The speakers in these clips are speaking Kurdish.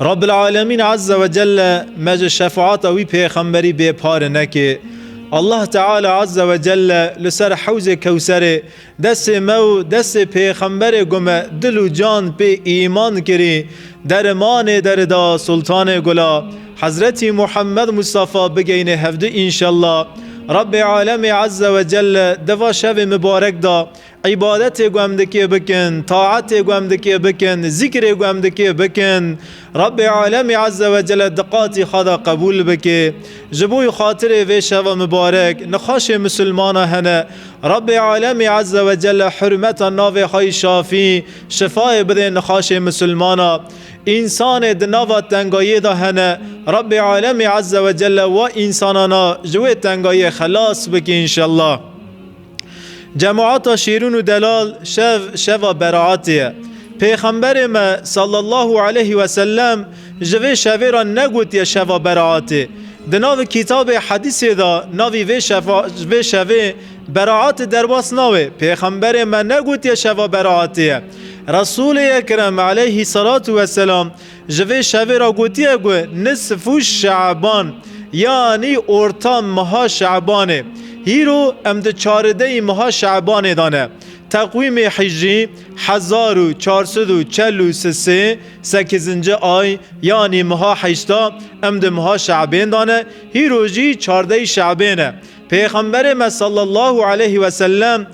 Rabbil Alemîn Azze ve Celle me ji şefaata wî pêxemberî bê pare neke. Allah Teala Azze ve Celle li ser hewzê Kewserê destê me û destê pêxemberê ku me dil û can pê îman kirî derimanê derida Sultanê Gula Hezretî Muhammed Mustafa bigeyne hevdu înşella. Rabbê Alemî Azze ve Celle di va şevê mibarek de Îbadetê ku em dikê bikin, taetê ku em dikê bikin, zîkrê ku em dikê bikin, Rebbê Alemî Ezze ve Celle di qatî xwe de qebûl bike. Ji bo xatirê vê şeva mibarek nixweşê misilmanan hene, Rebbê Alemî Ezze ve Celle hurmeta navê xwe yî Şafî, şifayê bidê nixweşê misilmanan. Însanê di nava tengayiyê de hene, Rebbê Alemî Ezze ve Celle wa însanana ji wê tengayiyê xelas bike înşellah. Cemaata Şêrûn û Delal şev şeva beraetê ye. Pêxemberê me sallallahu aleyhi ve sellem ji vê şevê re negotiye şeva beraetê. Di nav kîtabê hedîsê de navî vê şeva vê şevê beraet derbas nawe. Pêxemberê me negotiye şeva beraetê ye. Resûlê Ekrem aleyhî selatû weselam Ji vê şevê re gotiye ku nisf û şe'ban yanî orta meha şe'banê. Hîro em di çarideyî meha şe'banê de ne. Teqwîmê hîjrî hezar û çar sed û çel û sisê sekizinci ay yanî meha heşta em di meha şe'bên de ne, hîro jî çardeyî şe'bê ne. Pêxemberê me sallallahu aleyh ve sellem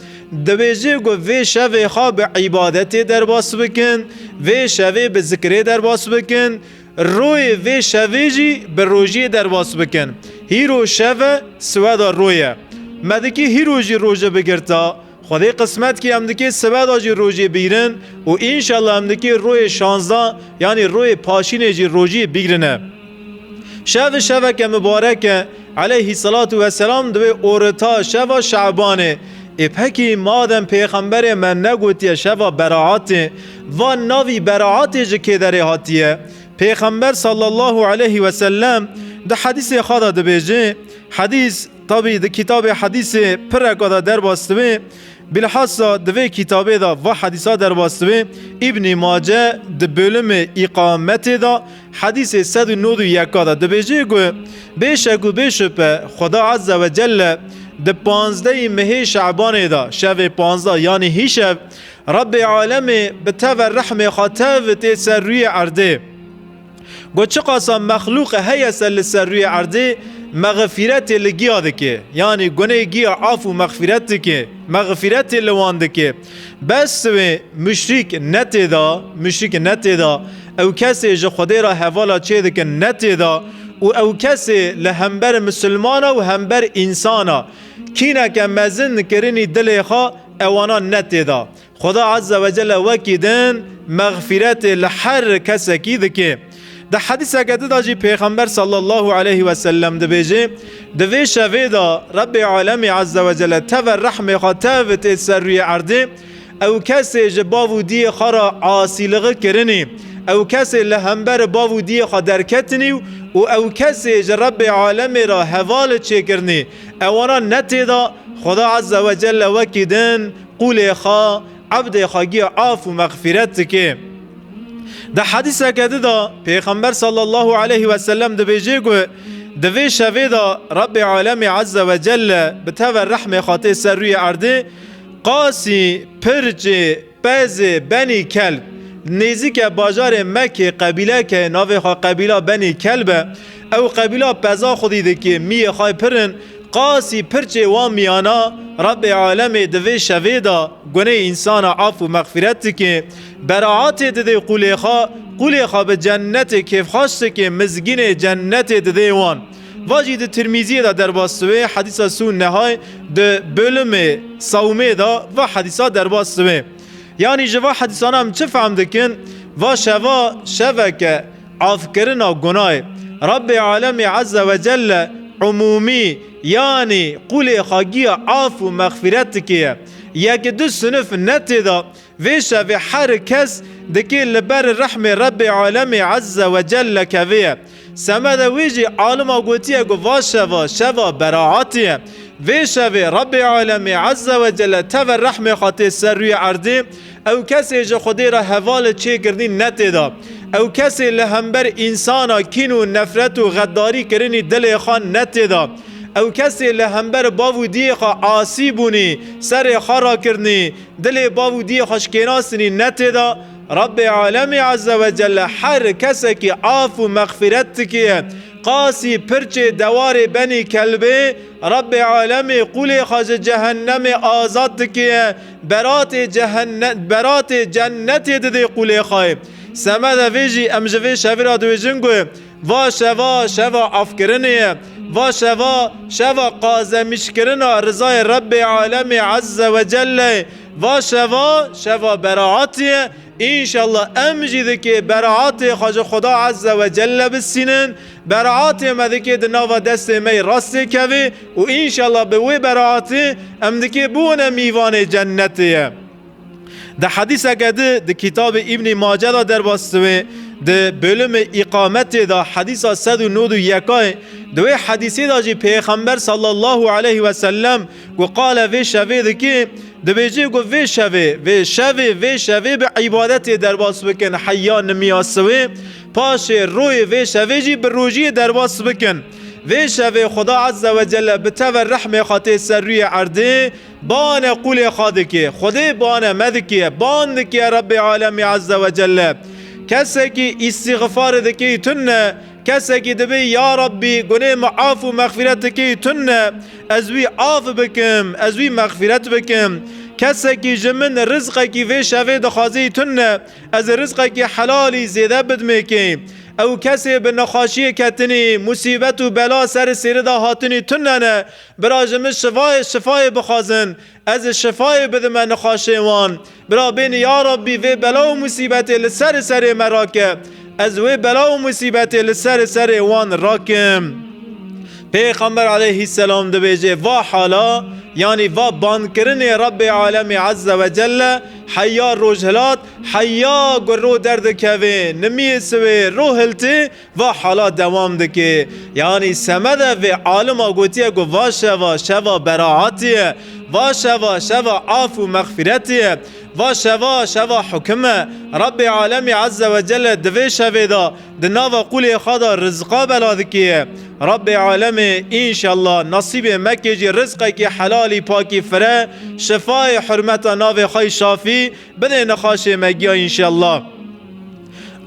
dibêje ku vê şevê xwe bi îbadetê derbas bikin, vê şevê bi zikirê derbas bikin, royê vê şevê jî bi rojiyê derbas bikin. Hîro şev e, siweda roy e. Me dikî hîro jî roje bigirta, Xwedê qismet kî em dikê sibe de jî rojê bigrin û înşallah em dikê royê şazdeh yanî royê paşînê jî rojî bigrine. Şev şeveke mibarek e, eleyhî selatû ve selam di wê orita şeva şebanê ê pekî madem pêxemberê me negotiye şeva beraetê va navî beraetê ji kê derê hatiye? Pêxember sallallahu eleyhî wesellem di hedîsê xwe de dibêje, Hedîs, Tabî di kitabê hedîsê pireka de derbas dibe. Bilhassa di vê kitabê de va hedîsa derbas dibe, Îbnî Mace di bôlimê Îqametê de hedîsê sed û nod û yeka de dibêje ku bê şek û bê şupe Xweda Ezze we Celle di panzdehî mehê Şe'banê de şevê panzda yanî hîşev Rebbê Alemê bi teve rehmê xwe tev tê ser rûyê erdê. Got çiqasa mexlûqe heye ser li ser rûyê erdê mexfiretê li giya dike. Yanî gunê giya af û mexfiret dike. Mexfiretê li wan dike. Bes siwê muşrîk ne tê da, muşrîk ne tê da. Ew kesê ji Xwedê re hevala çê dikin ne tê da û ew kesê li hember misilmana û hember însan a kîneke mezin kirinî dilê xwe ewana ne tê da. Xuda Azze ve Celle wekî din mexfîretê li her kesekî dike. Di hedîseke din de jî Pêxember sallallahu aleyhi ve sellem dibêje, Di vê şevê de Rebbê alemî Azze ve Celle teve rehmê xwe tev tê ser rûyê erdê, ew kesê ji bav û diyê xwe re asîligi kirinî, ew kesê li hember bav û diyê xwe derketinî û ew kesê ji Rebbê alemê re heval çêkirinî, ewana ne tê de Xuda Azze ve Celle wekî din Qûlê xwe ebdê xwe giya af û mexfîret dike. Di hedîseke di de Pêxember sallallahu aleyhi ve sellem dibêje ku di vê şevê de Rebbê alemê ezze ve celle bi teve rehmê xwe tê ser rûyê erdê qasî, pirçê, pezê, benî kelb. Nêzîke bajarê Mekê qebîleke navê xwe qebîla Benî Kelb e. Ew qebîla peza xwedî dike, miyê xwe pir in, qasî pirçê wan miyana, Rebê alemê di vê şevê de gunê însana af û mexfîret dike, beraetê dide qûlê xwe, qûlê xwe bi cennetê kêfxweş dike, mizgînê cennetê dide wan. Va jî di Tirmîziyê de derbas dibe, hedîsa sûn nehay, di bölümê Savmê de va hedîsa derbas dibe. Yanî ji va hedîsana em çi fehm dikin? Va şeva şevek e. Afkirina gunahê Rabbê Alemî Ezze ve Celle umûmî yanî qûlê xagiya af û mexfîretikê ye. Yek du sinif ne tê de. Vê şevê her kes dikê li ber rehmê Rabbê Alemî Ezze ve Celle kevîye. Semeda wî jî alima gotiye ku va şeva şeva beraetî ye. Vê şevê Rabbê Alemî Ezze ve Celle teve rehmê xwe tê ser rûyê erdê, Ew kesê ji Xwedê re hevalê çêkirinî netê da. Ew kesê li hember însana kîn û nefret û xeddarî kirinî dilê xwe netê da. Ew kesê li hember bav û diyê xwe asî bûnî, serê xwe rakirinî, dilê bav û diyê xwe şikênastinî netê da. Rabbê Alemî Eze we Celle her kesekî af û mexfîret dikiye. Qasî, pirçê, dewarê, benî, kelbê, Rabbê Alemî qûlê xwe ji cehennemê azad dikiye. Beratê cehenne beratê cennetê didê Qulêxayê. Semede vê jî em ji vê şevê re dibêjin ku va şeva şeva afkirinê ye. Va şeva şeva qazemîşkirina rizayê Rebbê Alemê Ezze ve Celle ye. Va şeva şeva beraatî ye. Înşallah em jî dikê beraatê xwe ji Xuda Ezze ve Celle bisînin. Beraatê me dikê di nava destê me yê rastê kevê û înşellah bi wê beraatê em dikê bûne mîvanê cennetê ye. Di hedîseke di di kîtabê Îbnî Mace de derbas diwê, di bölümê Îkametê de hedîsa sed û nod û yekayê, di wê hedîsê de jî pêxember sallallahu aleyh wesellem ku qale vê şevê dikê, dibêje ku vê şevê, vê şevê, vê şevê bi îbadetê derbas bikin heya nimiya siwê, Paşê royê vê şevê jî bi rojiyê derbas bikin. Vê şevê Xweda Ezze ve Celle bi teve rehmê xwe tê ser rûyê erdê, bane qûlê xwe dike. Xwedê bane me dike, ban dike Rebbê Alemî Ezze ve Celle. Kesekî îstîxifarê dikeyî tune, kesekî dibê ya Rebbî gunê min af û mexfîret dikeyî tune, ez wî af bikim, ez wî mexfîret bikim. Kesekî ji min rizqekî vê şevê dixwazeyî tune, Ez ê rizqekî helalî zêde bidmêkê. Ew kesê bi nexaşiyê ketinî, musîbet û bela serê sêrê de hatinî tune ne. Bira ji min şivayê şifayê bixwazin. Ez ê şifayê bidime nexaşê wan. Bira bênî ya Rabbî vê bela û musîbetê li serê serê me rake. Ez wê bela û musîbetê li serê serê wan rakim. Pêxember aleyhîsselam dibêje va hala yanî va bankirinê Rabbê alemî ezze wecelle, Heya Rojhilat, heya ku rû derdikeve, nimiyê siwê rû hiltê, va hala dewam dike. Yanî semede vê alima gotiye ku va şeva, şeva beraetê ye, va şeva, şeva af û mexfîretê ye, va şeva, şeva hukim e. Rebê Alemî Ezze Wecelle di vê şevê de, Di nava qûlê xwe de rizqa bela dikê. Rabbê Alemê înşella nasîbê me kê jî rizqekî helalî pakî fire, şifayê hurmeta navê xwe Şafî bidê nexaşê me giya înşella.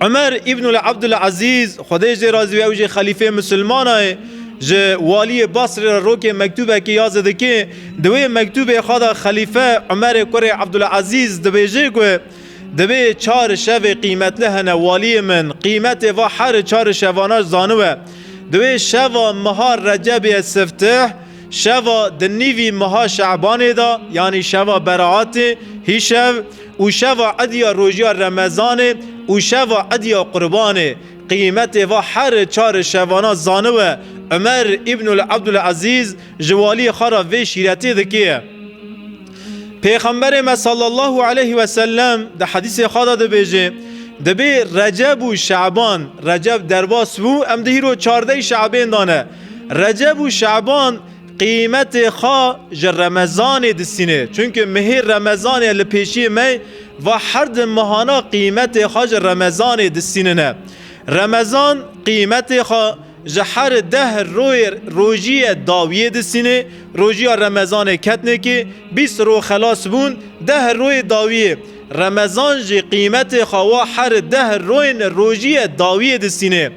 Umer Îbnul Ebdul Ezîz Xwedê jê razî be ew jî xelîfê misilmanayê ji waliyê Basrê re rokê mektûbekî ya zidikê. Di wê mektûbê xwe de xelîfe Umerê kurê Ebdul Ezîz dibêjê ku Divê çar şevê qîmetli hene waliyê min qîmetê va her çar şevanan zaniwe. Divê şeva meha Recebê ye siftih, şeva di nîvî meha Şebanê de yanî şeva Beraatê, hîşev, û şeva idya rojiya Remezanê û şeva idya Qurbanê qîmetê va her çar şevanan zaniwe. Umer Îbnul Ebdul Ezîz ji waliyê xwe re vê şîretê dike. Pêxemberê me sallallahu aleyhi ve sellem di hedîsê xwe de dibêje, Dibê Receb û Şaban, Receb derbas bû, em di hîro çardeyî Şabên de ne. Receb û Şaban qîmetê xwe ji Remezanê disîne. Çunke mehê Remezanê li pêşiyê me ye, va her di mehana qîmetê xwe ji Remezanê disînine. Remezan qîmetê xwe Ji her deh royê rojiyê dawiyê disînê, rojiya remezanê ketnekê, bîst ro xelas bûn, deh royê dawiyê. Remezan jî qîmetê xwe wa her deh royên rojiyê dawiyê disînê.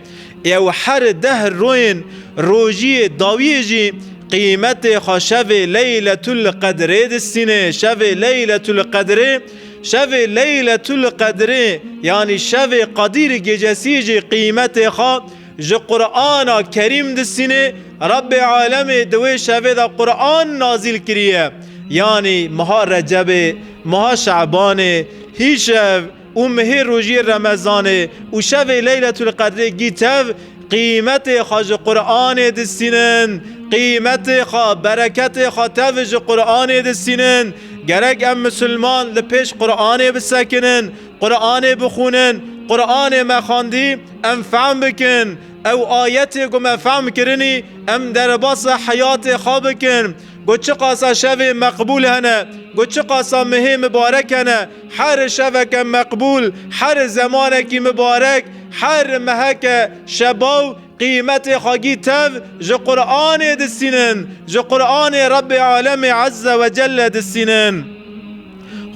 Ew her deh royên rojiyê dawiyê jî qîmetê xwe şevê leyletul qedrê disînê, şevê leyletul qedrê, şevê leyletul qedrê yanî şevê qedîr gecesî jî qîmetê xwe, Ji Qur'ana Kerîm disînê Rebbê Alemê di wê şevê de Qur'an nazîl kiriye. Yanî meha Recebê, meha Şe'banê, hîşev û mehê rojiyê Remezanê û şevê Leyletul Qedrê gî tev qîmetê xwe ji Qur'anê disînin. Qîmetê xwe, bereketê xwe tev ji Qur'anê disînin. Gerek em misilman li pêş Qur'anê bisekinin. Quranê bixwînin, Quranê me xwendî em fehm bikin, ew ayetê ku me fehm kirinî em derbasa heyatê xwe bikin ku çiqasa şevê meqbûl hene, ku çiqasa mihê mibarek hene, her şeveke meqbûl, her zemanekî mibarek, her meheke şebaw, Qîmetê xwegî tev ji Quranê disînin, ji Quranê Rebê Alemê Ezze ve Celle disînin.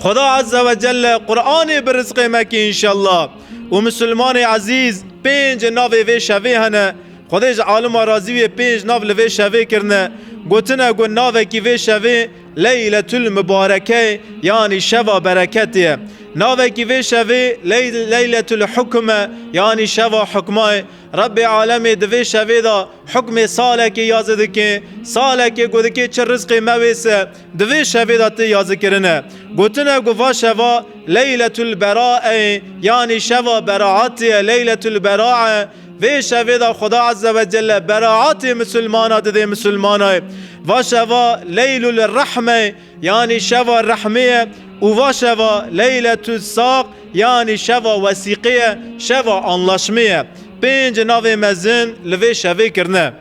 Xuda Ezze ve Celle Quranê bi rizqê me kî înşella. Û Musulmanê Ezîz pênc navê vê şevê hene. Xwedê ji alima razî wê pênc nav li vê şevê kirine. Gotine ku navekî vê şevê Leyletul Mubareke yanî şeva bereketê ye. Navekî vê şevê Leyletul Hukm e yanî şeva hukma ye. Rebbê alemê di vê şevê de hukmê salekê ya zidikê, salekê ku dikê çi rizqê me wê se, di vê şevê de tê ya zikirin e. Gotin e ku va şeva Leyletul Beraeyê yanî şeva beraetê ye, Leyletul Berae. Vê şevê de Xuda Ezze ve Celle beraetê misilmana didê misilmanayê. Va şeva Leylul Rehmeyê. Yanî şeva rehmê ye û va şeva Leyletu Saq yanî şeva wesîqê ye, şeva anlaşmê ye. Pênc navê mezin li vê şevê kirine.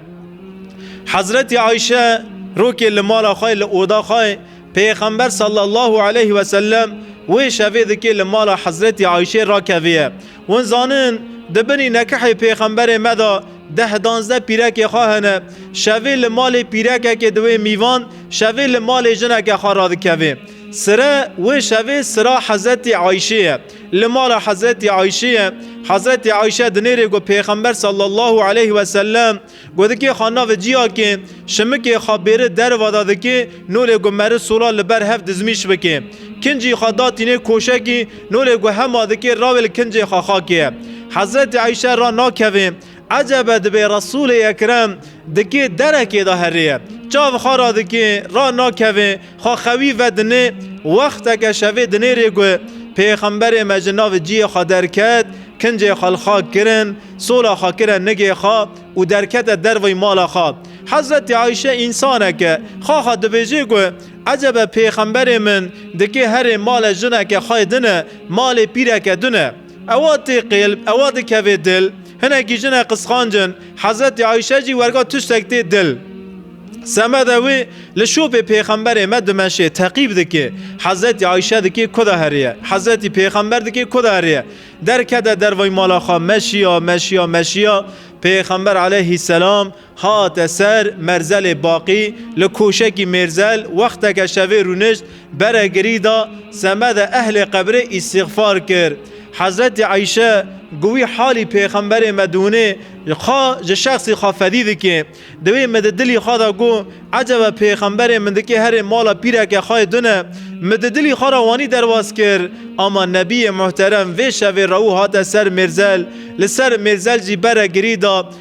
Hezretî Ayşe rokê li mala xwe li oda xwe Pêxember sallallahu aleyh wesellem wê şevê dikê li mala Hezretî Ayşê rakeviye. Hûn zanin di binî nekehê pêxemberê me de deh danzdeh pîrekê xwe hene. Şevê li malê pîrekekê diwê mîvan, şevê li malê jineke xwe radikevê. Sire wê şevê sira Hezretî Ayşê ye. Li mala Hezretî Ayşê ye. Hezretî Ayşe dinêrê ku pêxember sallallahu aleyh wesellem, Godikê xwe navê ciyakê şimikê xwe bêri derva de dikê, nolê ku meri sola li ber hev dizmîş bikê. Kincî xwe da tînê koşekî, nolê ku hema dikê rawê li kincê xwe xakê ye. Hezretî Eyşe ra nakevê. Ecebe dibê Resûlê Ekrem dikê derekê de herêye. Çav xwe ra dikê, ra nakevê. Xwe xewî vedinê, wexteke şevê dinêrê ku Pêxemberê me ji nav ciyê xwe derket, kincê xwe li xwe kirin, sola xwe kire nigê xwe û derkete derveyî mala xwe. Hezretê Ayşe însaneke xaxa dibêje ku ecebe Pêxemberê min dikê herê male jineke xwê din e, malê pîreke din e. Ewa tê qêlb, ewa dikevê dil. Hinekî jin e qisxancin. Hezretî Ayşe jî werga tiştek tê dil. Semede wî li şopê pêxemberê me dimeşê, teqîb dike. Hezretî Ayşe dike ku de heriye. Hezretî pêxember dike ku de heriye. Derkete dervey mala xwe, meşiya, meşiya, meşiya. Pêxember aleyhîsselam Hate ser Merzelê Baqî li Koşekî Mêrzel wexteke şevê rûnişt, bere girî da, semede ehlê qebrê îstîxfar kir. Hezretî Eyşe ku wî halî pêxemberê me dûnê xwe ji şexsî xwe fedî dike, di wê min di dilî xwe de got, Ecebe pêxemberê min dikê herê mala pîreke xwe yê dune. Min di dilî xwe re wanî derbas kir. Ama Nebiyê Muhterem vê şevê rewû hate ser Mêrzel, li ser Mêrzel jî bere girî da,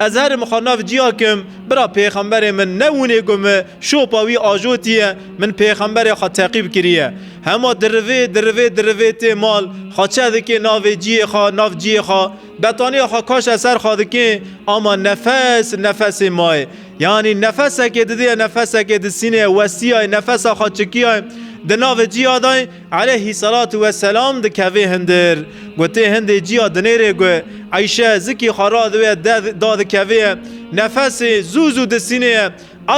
Ez herim xwe nav cîya kim, bira pêxemberê min ne wûnê ku mi şopa wî ajotiye, min pêxemberê xwe teqîb kiriye. Hema dirivê, dirivê, dirivê tê mal, xwe çeh dikê navê cîyê xwe, nav cîyê xwe, betaniya xwe kaşe ser xwe dikê, ama nefes, nefesê maye. Yanî nefesekê didê, nefesekê disînê, westîyayê, nefesa xwe çikîyayê, di navê cîya dayê, Eleyhî selatû we selam dikeve hindir. Gotê hindê ciya dinêrê gu, Eyşe, zikê xwe ra diwe da dikeve ye. Nefesê zû zû disînê ye.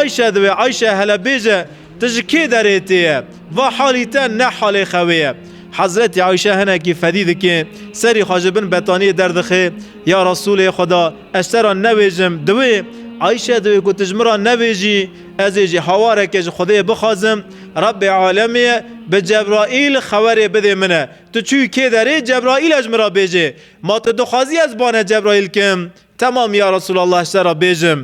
Eyşe diwe, Eyşe hele bêje, tu ji kê derê tê ye? Va halî te ne halê xewê ye. Hezretî Eyşe hinekî fedî dike, serî xwe ji bin betaniyê derdixe, Ya Resûlê Xweda, ez te ra nevêjim. Diwê, Eyşe diwê ku tu ji min ra nevêjî, ez ê jî hawareke ji Xwedê bixwazim. Rebbê alemê bi Cebraîl xewerê bidê min e. Tu çûyî kê derê Cebraîl e ji min re bêjê. Ma tu dixwazî ez bane Cebraîl kim? Temam ya Resûlallah ji te re bêjim.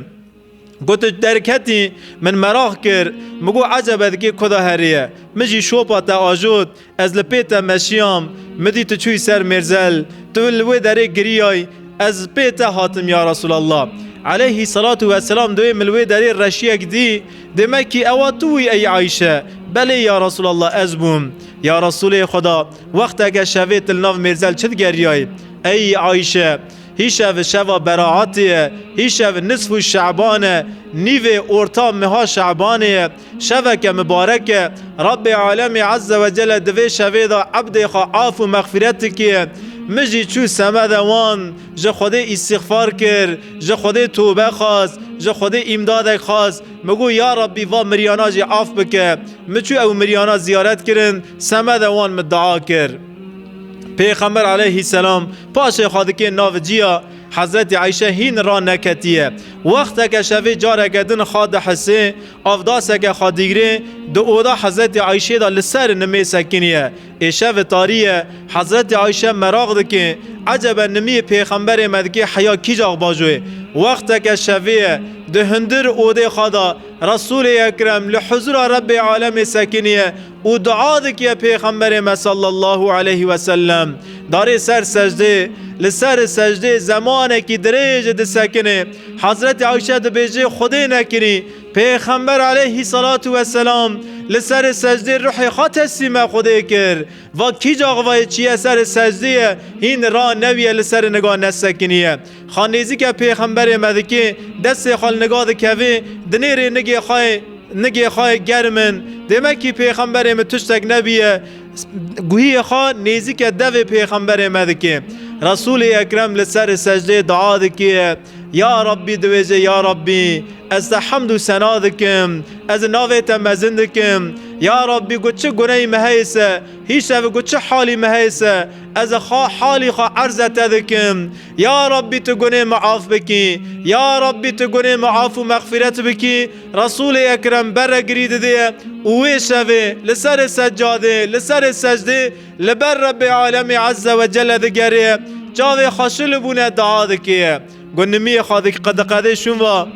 Ku tu derketî min meraq kir. Min got eceb e di kê kuda herî ye. Min jî şopa te ajot. Ez li pê te meşiyam, midî tu çûyî ser mêrzel, tu li wê derê giriyay, ez pê te hatim ya Resûlallah. Eleyhî selatû weselam duyê min li wê derê reşiyek dî, dê me kî ewa tu wî ey Ayşe? Belê ya Resûlallah ez bûm. Ya Resûlê Xweda, wexteke şevê tu li nav mêrzel çi digeriyay? Ey Ayşe! Hî şev şeva beraetê ye, hî şev nisfû şeban e, nîvê orta meha şebanê ye, Şeveke mibarek e. Rabbê Alemî Ezze ve Celle di vê şevê de ebdê xwe af û mexfîret dikiye. Min jî çû seme de wan, ji Xwedê îstîxfar kir, ji Xwedê tobe xwest, ji Xwedê îmdadek xwest, min got ya Rabbî van miryana jî af bike. Min çû ew miryana ziyaret kirin, seme de wan min dua kir. Pêxember aleyhîsselam paşê xwe dikên navê cî ya. Hezretî Ayşe hîn ra neketiye. Wexteke şevê careke din xwe dihisê, avdaseke xwe digirê, di oda Hezretî Ayşeyê de li ser nimê sekiniye. Êşev tarî ye. Hezretî Ayşe meraq dike, Ecebe nimiyê Pêxemberê me dike heya kîjax bajo ye? Wexteke şevê ye. Di hundir odê xwe de Resûlê Ekrem li huzûra Rebbê Alemê sekiniye û dua dike Pêxemberê me sallallahu aleyh wesellem darê ser secdê li ser secdê zemanekî dirêj disekinê Hezretê Ayşe dibêjê Xwedê nekirî Pêxember aleyhî selatu weselam li ser secdê ruhê xwe teslîme Xwedê kir va kî caxivayê çiye ser secdê ye hîn ra newiye li ser niga nesekiniye Xan nêzîkê pêxemberê me dikê, destê xwe li niga dikevê, dinêrê nigê xwe yê, nigê xwe yê germ in. Dê mekî pêxemberê min tiştek nebîye. Guhiyê xwe nêzîkê devê pêxemberê me dikê. Resûlê Ekrem li serê secdeyê dua dikê, Ya Rabbî diwêjê Ya Rabbî, ez te hemd û sena dikim, ez li navê te mezin dikim. Ya Rabbî got çi guneyê me heye se Hî şev ku çi halî me heye se, ez e xwe halî xwe erze te dikim. Ya Rabbî tu gunê me af bikî. Ya Rabbî tu gunê me af û mexfîret bikî. Resûlê Ekrem bere girî didiye û wê şevê li serê seccadê, li serê secdê li ber Rebbê Alemî Ezze we Celle digerê, çavê xwe şilibûne dua dikê. Ku nimiyê xwe qediqedê şûn va,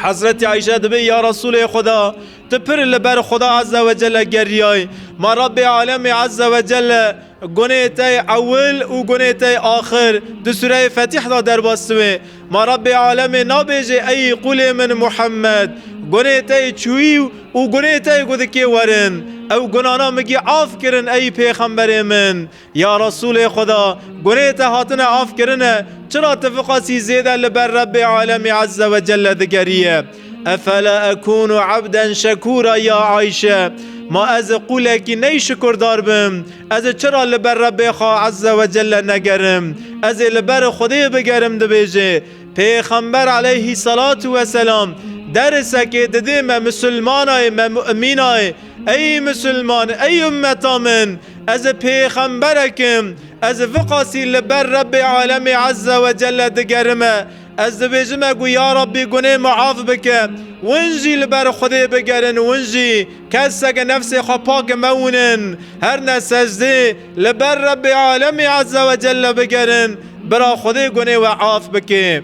Hezretî Ayşe dibê, Ya Resûlê Xuda! Tu pir li ber Xuda Azze ve Celle geriyayî. Ma Rabbê Alemê Azze ve Celle gunê te yê ewil û gunê te yê axir di sûreyê Fetîh de derbas dibe. Ma Rabbê Alemê nabêje Eyî qûlê min Muhemmed! Gunê te yê çûyî û gunê te yê ku dikê werin. Ew gunana migî af kirin eyî pêxemberê min. Ya Resûlê Xweda, gunê te hatine afkirine, çira tu viqasî zêde li ber Rebbê Alemî Ezze ve Celle digeriye? Efela ekûnu ebden şekûra ya Ayşe, Ma ez ê qûlekî ney şikurdar bim? Ez ê çira li ber Rebbê xwe Ezze ve Celle negerim? Ez ê li ber Xwedê bigerim dibêje, Pêxember Eleyhî Selatu Weselam, Derisekê didê me Misilmanayê me Mu'mînayê, Ey misilman, ey ummeta min! Ez pêxemberek im. Ez viqasî li ber Rebbê alemê ezze we celle digerime. Ez dibêjim me ku ya Rebbî gunê min af bike. Win jî li ber Xwedê bigerin, win jî keseke nefsê xwe pak mewinin. Her ne secdê li ber Rebbê alemê ezze we celle bigerin, bira Xwedê gunê we af bike.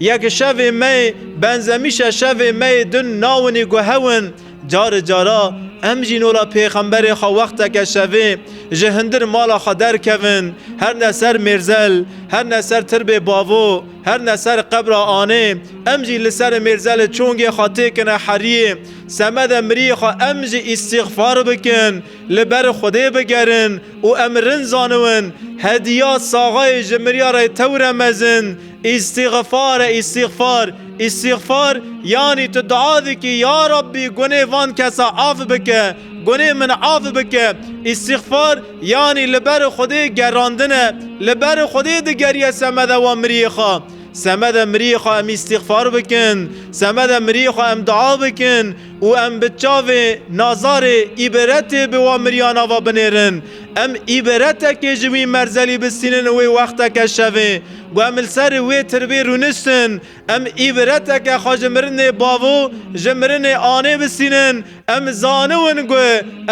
Yek şevê me yê benzemîşe şevê me yê din nawinî ku hew in. Cari cara em jî nola pêxemberê xwe wexteke şevê ji hindir mala xwe derkevin her ne ser mêrzel, her ne ser tirbê bavo, her ne ser qebra anê, em jî li ser mêrzelê çongê xwe têkine heriyê, semede miriyê xwe em jî îstîxfar bikin. Li ber Xwedê bigerin û em rind zaniwin, hediya saxayê ji miryarê tewre mezin, îstîxfar e, îstîxfar. Îstîxfar yanî tu dua dikî, ya Rabbî gunê van kesa af bike, gunê min af bike. Îstîxfar yanî li ber Xwedê gerandin e, li ber Xwedê digeriye semeda wan miriyê xwe. Semeda miriyê xwe em îstîxfar bikin, semeda miriyê xwe em dua bikin. Û em bi çavê nazarê îbretê bi wan miriyan ava binêrin. Em îbretekê ji wî merzelî bistînin û wê wexteke şevê ku em li ser wê tirbê rûniştin, em îbreteke xwe ji mirinê bavo, ji mirinê anê bistînin. Em zaniwin ku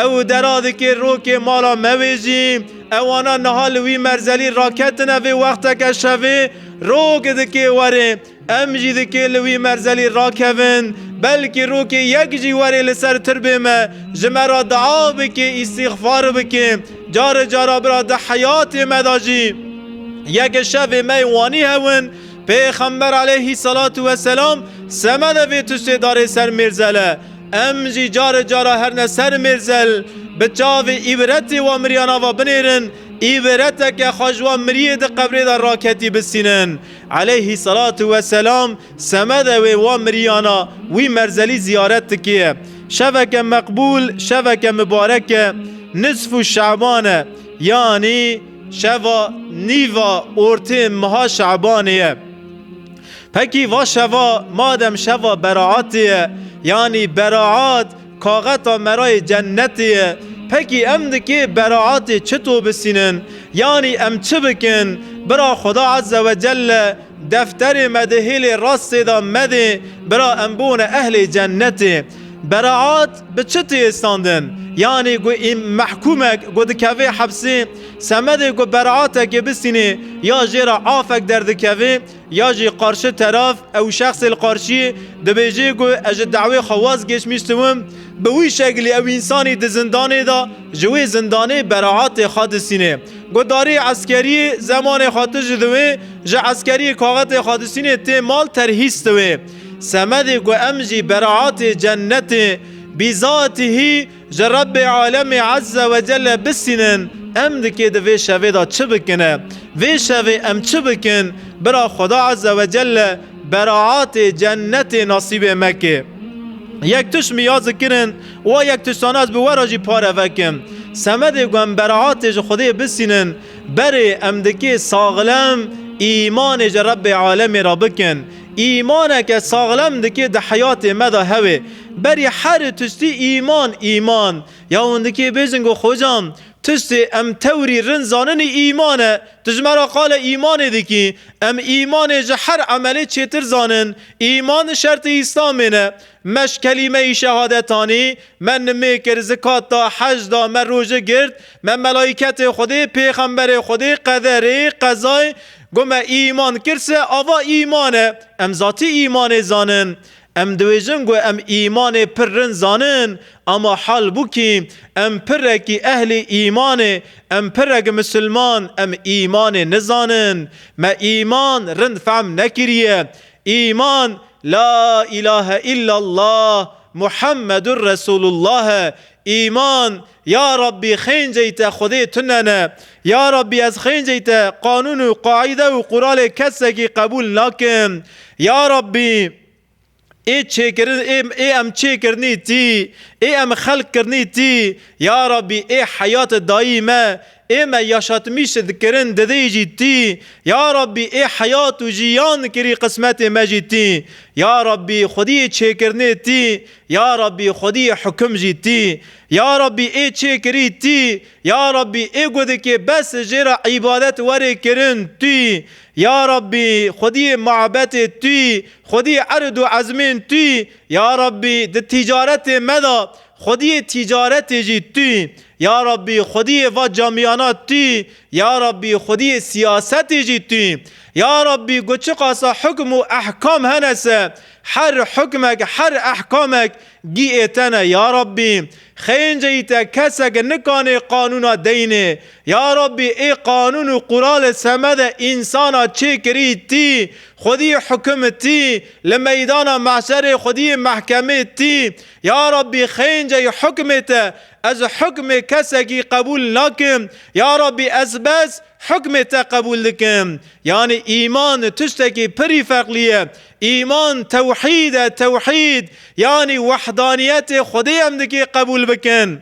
ew dera dikê rokê mala me wê jî. Ewana niha li wî merzelî raketine vê wexteke şevê rok dikê werê. Em jî dikê li wî merzelî rakevin, belkî rokê yek jî were li ser tirbê me, ji me re dua bike, îstîxfar bike. Care cara bira di heyatê me de jî yeke şevê me yê wanî hewin. Pêxember aleyhî selatû weselam semede vê tiştê darê ser mêrzele. Em jî care cara her ne ser mêrzel bi çavê îbretê wan miriyana ve binêrin, îbreteke xwe ji wan miriyê di qebrê de raketî bistînin. Eleyhî selatû we selam, semedê wê wa miriyana wî merzelî ziyaret dikiye. Şeveke meqbûl, şeveke mibarek e, nisfû şe'ban e, yanî şeva nîva ortê meha şe'banê ye. Pekî va şeva madem şeva beraetê ye, yanî beraet, Kaxeta merayê cennetê ye. Pekî em dikê beraatê çi to bisînin? Yanî em çi bikin? Bira Xweda Ezze ve Celle defterê me di hêlê rastê de medê, bira em bûne ehlê cennetê. Beraat bi çi tê istandin? Yanî ku îm mehkûmek ku dikevê hepsê semedê ku beraatekê bisînê ya jê re afek derdikevê? Ya jî qarşi teraf ew şexsê li qarşiyê dibêjê ku ez ji dawê xwe waz geçmiştiwim, bi wî şeklî ew însanî di zindanê de ji wê zindanê beraetê xwe disînê. Guhdarî eskerî zemanê xwe tije diwê, ji eskerî kaxetê xwe disînê tê mal terhîs diwê. Semedê ku em jî beraetê cennetê bîzaetî hî, Ji Rebbê Alemê Ezze Wecelle bisînin em dikê di vê şevê de çi bikin e? Vê şevê em çi bikin bira Xweda Ezze Wecelle beraatê, cennetê nasîbê me ke? Yek tişt min ya zikirin û a yek tiştan ez bi we re jî pare vekim. Semedê ku em beraatê ji Xwedê bisînin berê em dikê saxlem îmanê ji Rebbê Alemê re bikin. Îmaneke saxlem dikê di heyatê me de hewê. Berî herî tustî îman, îman. Ya windikî bêjin got, Hocam, tustê em tewrî rind zaninî îman e. Tu ji me re qala îmanê dikî. Em îmanê ji her emelê çêtir zanin. Îman şertê Îslamê ne. Me ji kelîmeyî şehadet anî, me nimê kir, zikat da, hec da, me roje girt, me melaîketê Xwedê, pêxemberê Xwedê, qederê, qezayê, got me îman kir se ava îman e. Em zatî îmanê zanin. Em dibêjin ku em îmanê pir rind zanin ama hal bû kî em pirekî ehlê îmanê, em pirek misilman em îmanê nizanin. Me îman rind fehm nekiriye. Îman La îlahe îllallah Muhammedur Resûlullah e. Îman Ya Rabbî xênceyî te Xwedê tu nene. Ya Rabbî ez xênceyî te qanûn û qaîde û quralê kesekî qebûl nakim. Ya Rabbî ê çêkirin ê ê em çêkirinî tî, ê em xelq kirinî tî. Ya Rabbî ê heyate dayî me, ê me yaşatmîş dikirin didêyî jî tî. Ya Rabbî ê heyat û jîyan kirî qismetê me jî tî. Ya Rabbî Xwedî çêkirinê tî. Ya Rabbî Xwedî hukim jî tî. Ya Rabbî ê çê kirî tî, Ya Rabbî ê gudikê bes jê re îbadet werê kirin tî, Ya Rabbî xwediyê mabetê tî, xwediyê erid û ezmên tî, Ya Rabbî di tîcaretê me de xwediyê tîcaretê jî tî, Ya Rabbî xwediyê va camiyana tî, Ya Rabbî xwediyê siyasetê jî tî, Ya Rabbî got çiqasa hukm û ehkam hene se, her hukmek, her ehkamek Gî ê tene ya Rabbî, xênceyî te keseke nikanê qanûna deynê. Ya Rabbî ê qanûn û quralê semede însana çêkirî tî, xwedî hukim tî, li meydana mahşerê xwedî mehkemê tî. Ya Rabbî xênceyî hukmê te, ez hukmê kesekî qebûl nakim. Ya Rabbî ez bes hukmê te qebûl dikim. Yanî îman tiştekî pirî ferqlî ye. Îman tewhîd e, tewhîd yanî wehdaniyetê Xwedê em dikê qebûl bikin.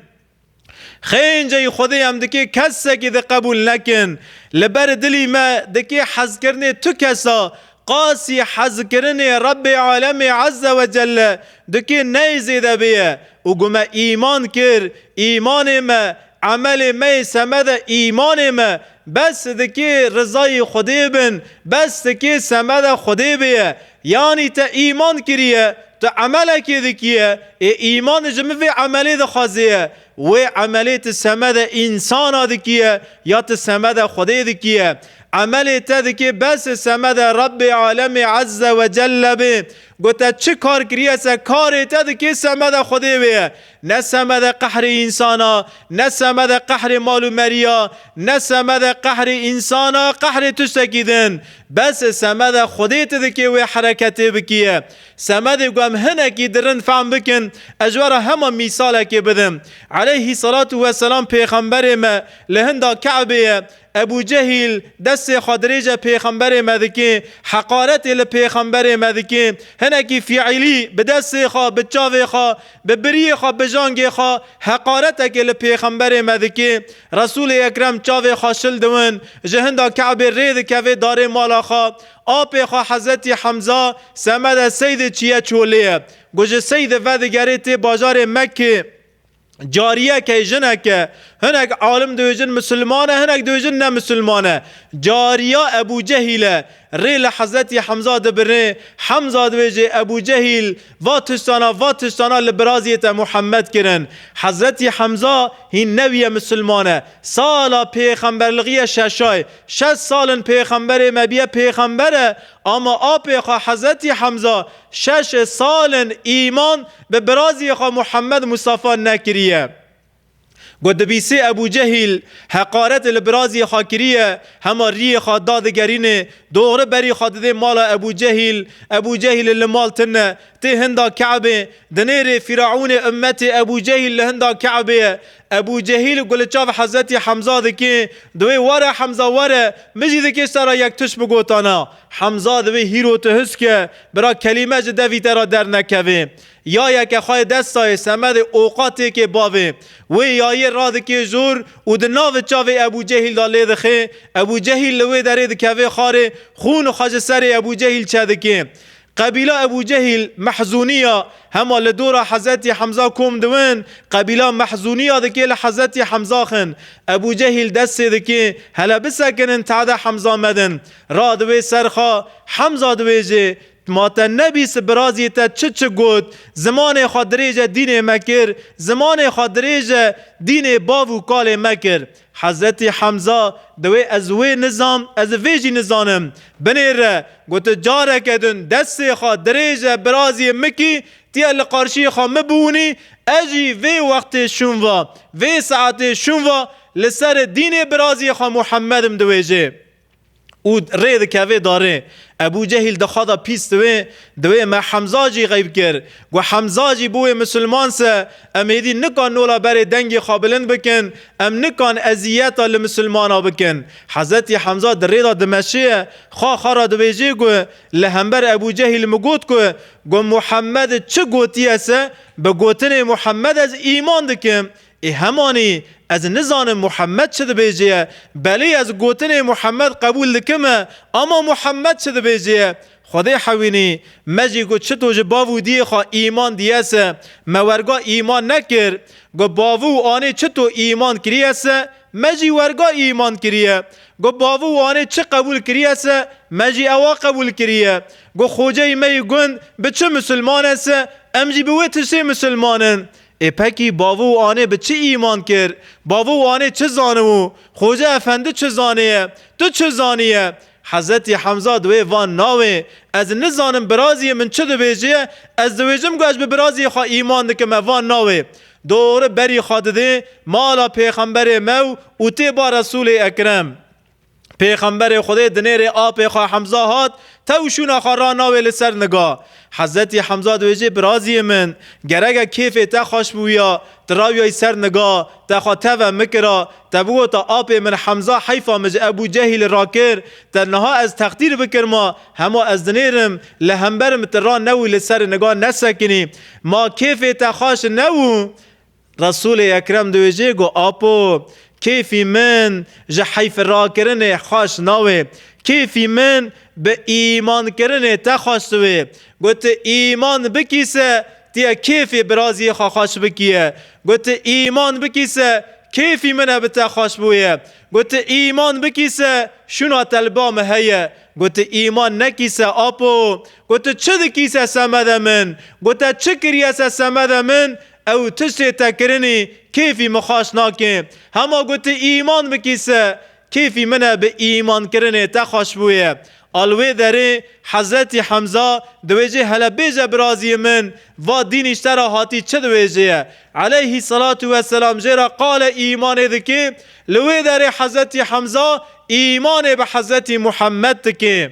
Xênceyî Xwedê em dikê kesekî di qebûl nekin. Li ber dilî me dikê hezkirinê tu kesa, qasî hezkirinê Rebbê Alemê Eze we Celle dikê ney zêde bêye û ku me îman kir, îmanê me, emelê me yê semede îmanê me Bes sidikê rizayê Xwedê bin, bes sikê semeda Xwedê bêye. Yanî te îman kiriye, tu emelekê dikiye, ê îman ji min vê emelê dixwazêye. Wê emelê tu semeda însana dikiye ya tu semeda Xwedê dikiye. Emelê te dikê bes semeda Rebbê Alemê Ezze Wecelle bê. Ku te çi kar kiriye ser karê te dikê semeda Xwedê bêye. Ne semede qehrê însan a, ne semede qehrê mal û merî ya, ne semede qehrê însan a, qehrê tiştekî din. Bese semede Xwedê tu dikê wê hereketê bikiye. Semedê ku em hinekî di rind fehm bikin, ez ji we re hema mîsalekê bidim. Eleyhî selatu weselam pêxemberê me li hinda Ke'bê ye, Ebû Cehîl destê xwe dirêje pêxemberê me dike, heqaretê li pêxemberê me dike, hinekî fîîlî bi destê xwe, bi çavê xwe, bi biriyê xwe, bi jangê xwe heqaretekê li pêxemberê me dike. Resûlê Ekrem çavê xwe şil diwin, ji hinda Kabê rê dikeve darê mala xwe. Apê xwe Hezretî Hemza semede Seydê çiye çolê ye. Ku ji Seydê vedigerê tê bajarê Mekkê. Cariyekê jineke hinek alim dibêjin misilman e hinek dibêjin ne misilman e. Cariya Ebû Cehîl e. Rê li Hezretî Hemza dibirnê. Hemza dibêjê Ebû Cehîl va tiştana va tiştana li biraziyê te Muhemed kirin. Hezretî Hemza hîn newiye misilman e. Sala pêxemberligiye şeşay. Şeş sal in pêxemberê me biye pêxember e Ama apê xwe Hezretî Hemza şeş sal in îman bi birazî xwe Muhemmed Mustafa nekiriye. Ku dibîsê Ebû Cehîl heqaretê li birazî xwe kiriye, hema riyê xwe dadigerînê, doxri berî xwe didê mala Ebû Cehîl, Ebû Cehîlê li mal tune, tê hinda Keebê, dinêrê Fîraûnê ummetê Ebû Cehîl li hinda Keebê ye, Ebû Cehîl ku li çav Hezretî Hemza dike, di wê were Hemza were, min jî dikê ser re yek tişt bigotana. Hemza di wê hîr û tihisk e, bira kelîme ji devî te re dernekeve. Yayeke xwe yê desta yê semedê oqa têkê bavê. Wê yayê radikê jor û di navi çavê Ebû Cehîl de lêdixe. Ebû Cehîl li wê derê dikeve xarê, xûn xwe ji serê Ebû Cehîl çedike. Qebîla Ebû Cehîl, Mehzûnîya, hema li dora Hezretî Hemza kom dibin, qebîla Mehzûnîya dikê li Hezretî Hemza xin. Ebû Cehîl dest sê dikê, hele bisekinin tehdê Hemza medin. Ra di wê ser xwe, Hemza dibêjê, Ma te nebîst birazî te çi çi got, zimanê xwe dirêje dînê me kir, zimanê xwe dirêje dînê bav û kalê me kir. Hezretî Hemza, Dewê ez wê nizam, ez vê jî nizanim. Binê re, got tu careke din destê xwe dirêje biraziyê min kî tiye li qarşiyê xwe min biwûnî, ez jî vê wextê şûnva, vê saetê şûnva li ser dînê biraziyê xwe Muhemmedim diwêjê. û rê dikevê darê. Ebû Cehîl dixwa da pîs diwê, diwê me Hemza jî xeyb kir. Got, Hemza jî bûwê misilman se, em êdî nikan nola berê dengê xwe bilind bikin, em nikan eziyeta li misilmana bikin. Hezretî Hemza di rê da dimeşiye, xwe xwe ra dibêjê ku, li hember Ebû Cehîl min got ku, ku Muhemmed çi gotiye se, bi gotinê Muhemmed ez îman dikim. Ê hemanî ez nizanim Muhammed çi dibêjê ye, belê ez gotinê Muhammed qebûl dikim e, ama Muhammed çi dibêjê ye? Xwedê hewînî, me jî got çi to ji bav û diyê xwe îman diye se, me werga îman nekir. Got bav û anê çi to îman kiriye se, me jî werga îman kiriye. Got bav û anê çi qebûl kiriye se, me jî ewa qebûl kiriye. Got xoceyê me yê gund bi çi misilman e se, em jî bi wê tiştê misilman in. Ê pekî bavû û anê bi çi îman kir? Bavû û anê çi zanibû? Xoca efendi çi zanêye? Tu çi zanîye? Hezretî Hemza di wê van nawê, Ez nizanim birazîyê min çi dibêjîye, ez diwêjim ku ez bi birazîyê xwe îman dikim me van nawê. Dori berî xwe didê mala pêxemberê me û tê ba Resûlê Ekrem. Pêxemberê Xwedê di nêrê apê xwe Hemza hat, tew şûna xwe ra nawê li ser niga. Hezretî Hemza diwêjê biraziyê min, gerege kêfê te xweş bûya, tu rawiyayî ser niga, te xwe teve mikira, te bigota apê min Hemza heyfa min ji Ebû Cehîlê ra kir, te niha ez teqdîr bikirma, hema ez dinêrim, li hember min tu ra newî li serê niga nesekinî. Ma kêfê te xweş nebû. Resûlê Ekrem dibêje ku Apo, kêfî min ji heyfirakirinê xweş nawê, kêfî min bi îmankirinê te xweş diwê. Ku tu îman bikî se tu yê kêfê biraziyê xwe xweş bikî ye. Ku tu îman bikî se kêfî min e bi te xweş bûye. Ku tu îman bikî se şûna te li ba min heye. Ku tu îman nekî se Apo, ku tu çi dikî se semede min, ku te çi kiriye se semede min, Ew tiştê te kirinî kêfî min xweş nake. Hema gotî îman bikî se kêfî min e bi îman kirinê te xweş bûye. A li wê derê Hezretî Hemza diwêjê hele bêje biraziyê min va dîn îşte ra hatî çi diwêjê ye. Eleyhî selatû we selam jê re qale îmanê dikê. Li wê derê Hezretî Hemza îmanê bi Hezretî Muhemmed dikê.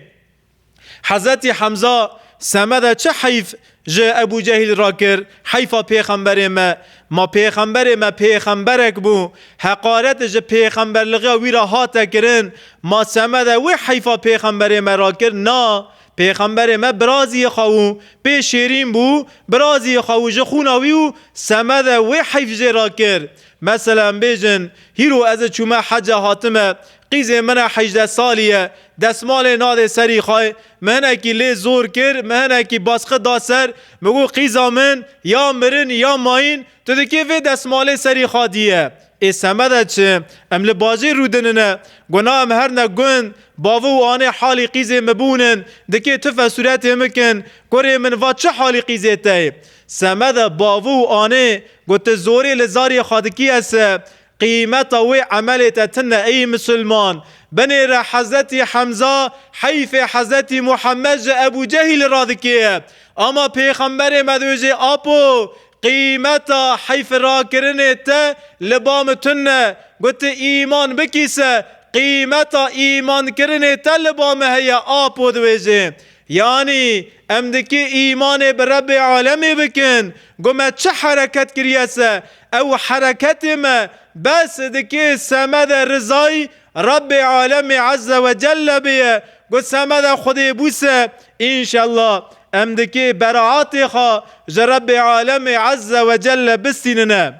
Hezretî Hemza semede çi heyf ji Ebû Cehîl re kir, heyfa pêxemberê me, ma pêxemberê me pêxemberek bû, heqaret ji pêxemberligiya wî re hate kirin, ma semede wê heyfa pêxemberê me re kir, na, pêxemberê me birazîyê xwe wû, pê şêrîn bû, birazîyê xwe wû ji xûna wî û semede wê heyf jê re kir. Mesele em bêjin, hîro ez çûme hece hatime, Qîzê min e hejdeh salî ye, desmalê nade serî xwe, min hinekî lê zor kir, min hinekî basqi da ser, min got qîza min ya mirin ya mayîn, tu di kê vê desmalê serî xwe dîye? Ê semede çi? Em li bajêr rûdinine, got na em her ne gund, bavê û anê halî qîzê min bûnin, di kê tu fesuretê min kin, kurê min va çi halî qîzê te ye? Semede bavê û anê got tu zorê li zarê xwe dikî ese, Qîmeta wê emelê te tune ey misilman. Binêre Hezretî Hemza, heyfê Hezretî Muhammed ji Ebû Cehîlê re dikê. Ama Pêxemberê me diwê jê Apo, qîmeta heyfê rakirinê te li ba min tune. Got tu îman bikî se qîmeta îmankirinê te li ba min heye Apo diwê jê. Yanî Em dikê îmanê bi Rebbê alemê bikin. Got me çi hereket kiriye se, ew hereketê me bes dikê semede rizayî Rebbê alemê eze we celle bêye. Got semeda Xwedê bû se, înşella em dikê beraatê xwe ji Rebbê alemê eze we celle bistînine.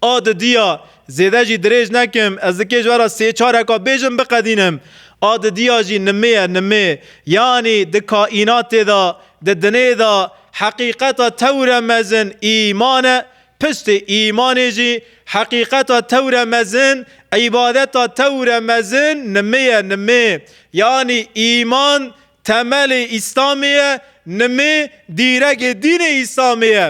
A didiya zêde jî dirêj nekim, ez dikê ji we re sê çareka bêjim biqedînim. A didiya jî nimê ye, nimê. Yanî di kaînatê de, di dinê de heqîqeta tewre mezin îman e, piştê îmanê jî heqîqeta tewre mezin, îbadeta tewre mezin nimê ye, nimê. Yanî îman temelê Îslamê ye, nimê dîregê dînê Îslamê ye.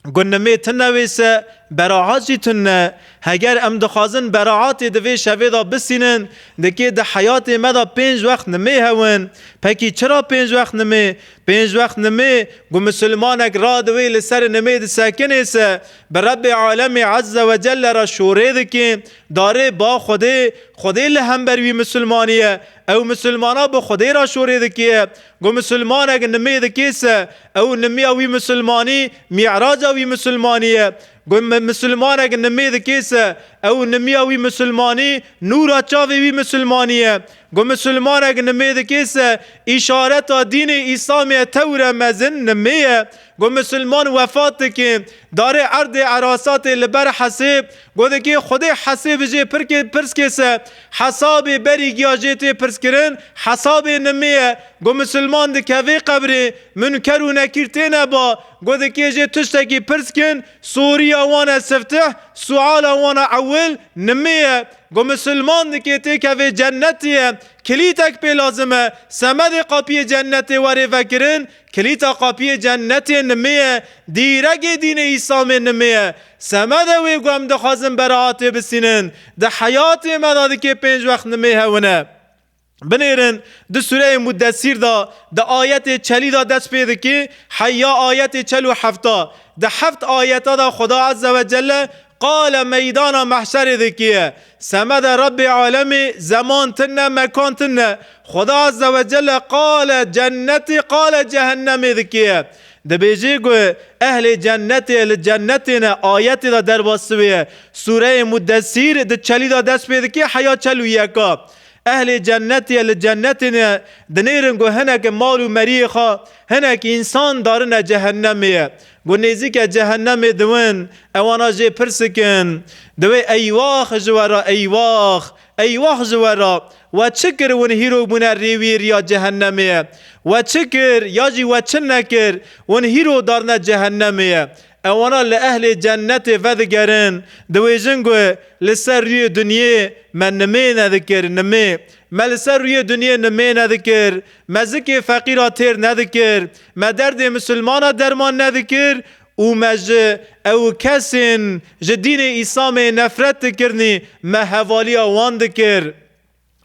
Gunnimê tu ne wêse, beraat jî tu ne. Heger em dixwazin beraatê di vê şevê de bisînin, dikê di heyatê me de pênc wext nimê hewin. Pekî çira pênc wext nimê? Pênc wext nimê, ku misilmanek ra di wê li ser nimê disekinê se, bi Rebbê Alemê Ezze ve Celle re şorê dikê, darê ba Xwedê, Xwedê li hember wî misilmanî ye, ew misilmana bi Xwedê re şorê dikê ye, Ku misilmanek nimê dikêse, ew nimiya wî misilmanî, mî'raca wî misilmanî ye. Ku misilmanek nimê dikêse, ew nimiya wî misilmanî, nûra çavê wî misilmanî ye. Ku misilmanek nimê dikêse, îşareta dînê Îslamê ye tewire mezin nimê ye. Ku misilman wefat dike, darê erdê erasatê li ber hesêb, Godekê Xwedê hesê bijê pirkê pirskê se, hesabê berî giya jê tê pirskirin, hesabê nimê ye. Go misilman dikevê qebrê, munker û nekîr têne ba. Godekê jê tiştekî pirskin, soriya wan e siftih, suala wan a ewil, nimê ye. Go misilman dikê têkevê cennetê ye. Kilîtek pê lazim e. Semedê qapiyê cennetê werê vekirin, Kilîta qapiyê cennetê nimê ye, dîregê dînê îslamê nimê ye. Semede wê ku em dixwazin beraetê bisînin, di heyatê me de dikê pênc wext nimê hewine. Binêrin di sureyê Muddesîr de di ayetê çelî de dest pê dikê heyya ayetê çel û hefta. Di heft ayete de Xuda Ezzewecelle qale meydana mehşerê dikê ye. Semed e Rebbê alemî, zeman tu ne, mekan tu ne. Xweda Azze ve Celle qale cennetî qale cehennemî dikiye. Dibêjî ku ehlê cennetê li cennetê ne ayetê de derbasivêye. Sûreyê Mudesîr di çelî de dest pê dike heya çel û yeka. Ehlê cennetê li cennetê ne dinêrin ku hineke mal û meriyê xwe hinekî însan darine cehennemê ye. Ku nêzîke cehennemê diwin, ewan a jê pirsik in. Diwê Eywax ji we re, Eywax! Eywax ji we re! We çi kir hûn hîrok bûne rêwî riya cehennemê ye? We çi kir ya jî we çi nekir hûn hîro darine cehennemê ye? Ewana li ehlê cennetê vedigerin, diwêjin ku li ser rûyê dinyê me nimêne dikir, nimê. Me li ser rûyê dinyê nimêne dikir. Me zikê feqîra têr nedikir, me derdê misilmana derman nedikir û me ji ew û kesên ji dînê Îslamê nefret dikirinî me hevaliya wan dikir.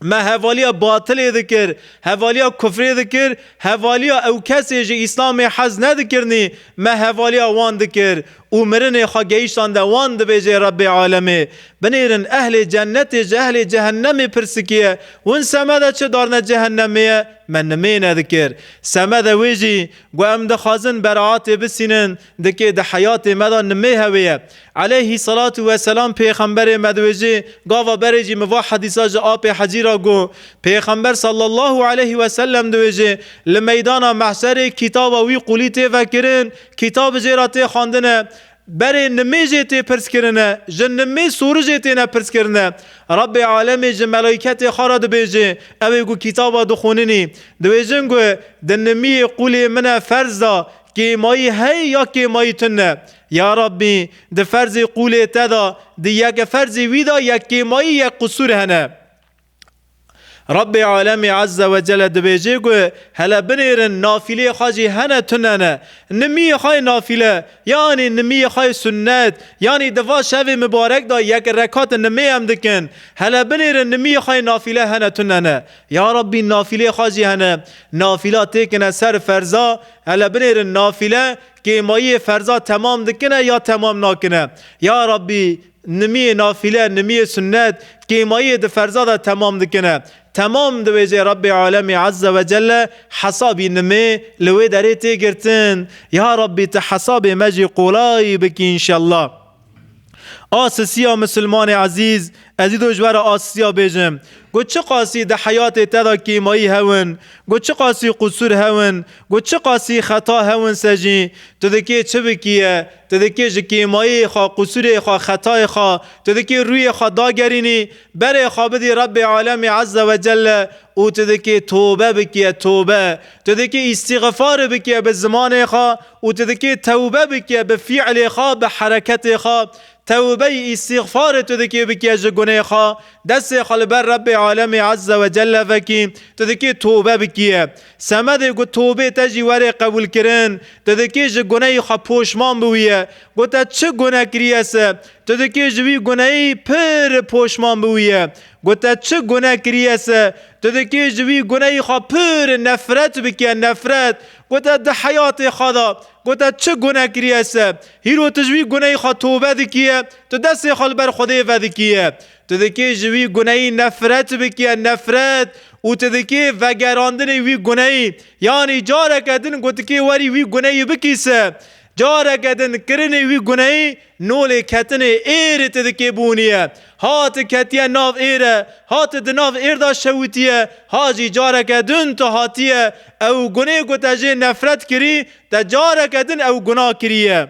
Me hevaliya batilê dikir, hevaliya kufrê dikir, hevaliya ew kesê ji Îslamê hez nedikirinî me hevaliya wan dikir û mirinê xwe geyşande wan dibêjê Rebbê alemê, Binêrin ehlê cenetê ji ehlê cehennemê pirsikîye, Win semede çi darine cehennemê ye? Me nimêne dikir. Semede wê jî gu em dixwazin beraatê bisînin, dikê di heyatê me de nimê hewê ye. Eleyhî selatu weselam pêxemberê me diwêjê, gava berê jî min va hedîsa ji apê hecî ra gu, Pêxember sallallahu eleyhi weselem diwêjê, li meydana mehşerê kîtaba wî qulî tê vekirin, Kîtabê jê re tê xwendin e, berê nimê jê tê pirskirin e, ji nimê sûri jê têne pirskirin e. Rebbê alemê ji melaîketê xwe re dibêje, ew ê ku kîtaba dixwîninî, dibêjin ku di nimiyê qûlê min e ferz de kêmayî heye ya kêmayî tune ye. Ya Rebbî, di ferzê qûlê te de, di yek ferzê wî de yek kêmayî, yek qisûr hene. Rabbê Alemî Ezze ve Celle dibêjê ku hele binêrin nafîleyê xwe jî hene tune ne. Nimîyê xwe yê nafîle yanî nimîyê xwe yê sunnet yanî di va şevê mibarek de yek rekat nimê em dikin. Hele binêrin nimîyê xwe yê nafîle hene tune ne. Ya Rabbî nafîleyê xwe jî hene. Nafîla têkine ser ferza hele binêrin nafîle kêmayiyê ferza temam dikine ya temam nakine. Ya Rabbî Nimiyê nafile, nimiyê sunnet, kêmayiyê di ferza de temam dikine. Temam diwêjê Rabbê Alemî Ezze ve Celle hesabî nimê li wê derê tê girtin. Ya Rabbî tu hesabê me jî qolay bikî înşella. A sisiya misilmanê ezîz, ez î do ji we re a sisiya bêjim. Got çiqasî di heyatê te de kêmayî hewin, got çiqasî qusur hewin, got çiqasî xeta hewin se jî tu dikê çi bikî ye, Tu dikê ji kêmayê xwe, qusûrê xwe, xetayê xwe, tu dikê rûyê xwe dagerînî berê xwe bidî Rebbê Alemî Ezze ve Celle û tu dikê tobe bikîe, tobe. Tu dikê îstîxifar bikîe bi zimanê xwe û tu dikê tewbe bikîe bi fî'lê xwe, bi hereketê xwe. Tewbeyî, îstîxfarê tu dikê bikîe ji gunê xwe, destê xwe li ber Rebbê Alemî Ezze ve Celle vekî, tu dikê tobe bikîe. Semedê got tobê te jî were qebûlkirin, tu dikê ji gunehê xwe poşman bi wî ye. Got te çi guneh kiriye se, tu dikê ji wî gunehê pir poşman bi wî ye. Got te çi guneh kiriye se, tu dikê ji wî gunehê xwe pir nefret bike, nefret. Got te di heyatê xwe de, got te çi guneh kiriye se, hîro tu ji wî gunehê xwe tobe dikî ye, tu destê xwe li ber Xwedê vedikî ye. Tu dikê ji wî guneyî nefret bikiye, nefret û tu dikê vegerandinê wî guneyî. Yanî careke din gotikê werî wî guneyî bikîse. Careke din kirinê wî guneyî nolê ketinê êrê tu dikê bûniye. Ha tu ketiye nav êre, ha tu di nav êr de şewitiye, ha jî careke din tu hatiye ew gunê ku te jê nefret kirî, te careke din ew guna kiriye.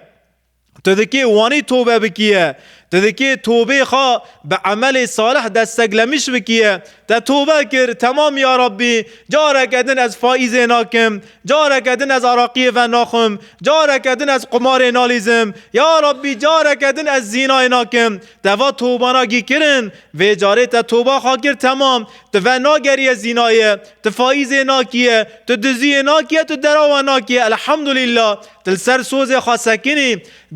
Tu dikê wanî tobe bikiye. Tu dikê tobê xwe bi emelê salih desteglemiş bikiye. Te tobe kir, temam ya Rabbî, careke din ez faîzê nakim, careke din ez araqiyê ve naxwim, careke din ez qumarê nalîzim, ya Rabbî careke din ez zînayê nakim. Te va tobana gî kirin, vê carê te toba xwe kir temam, tu ve nageriye zînayê, tu faîzê nakiye, tu diziyê nakiye, tu derawe nakiye. Elhamdulîllah. Tu li ser sozê xwe sekinî,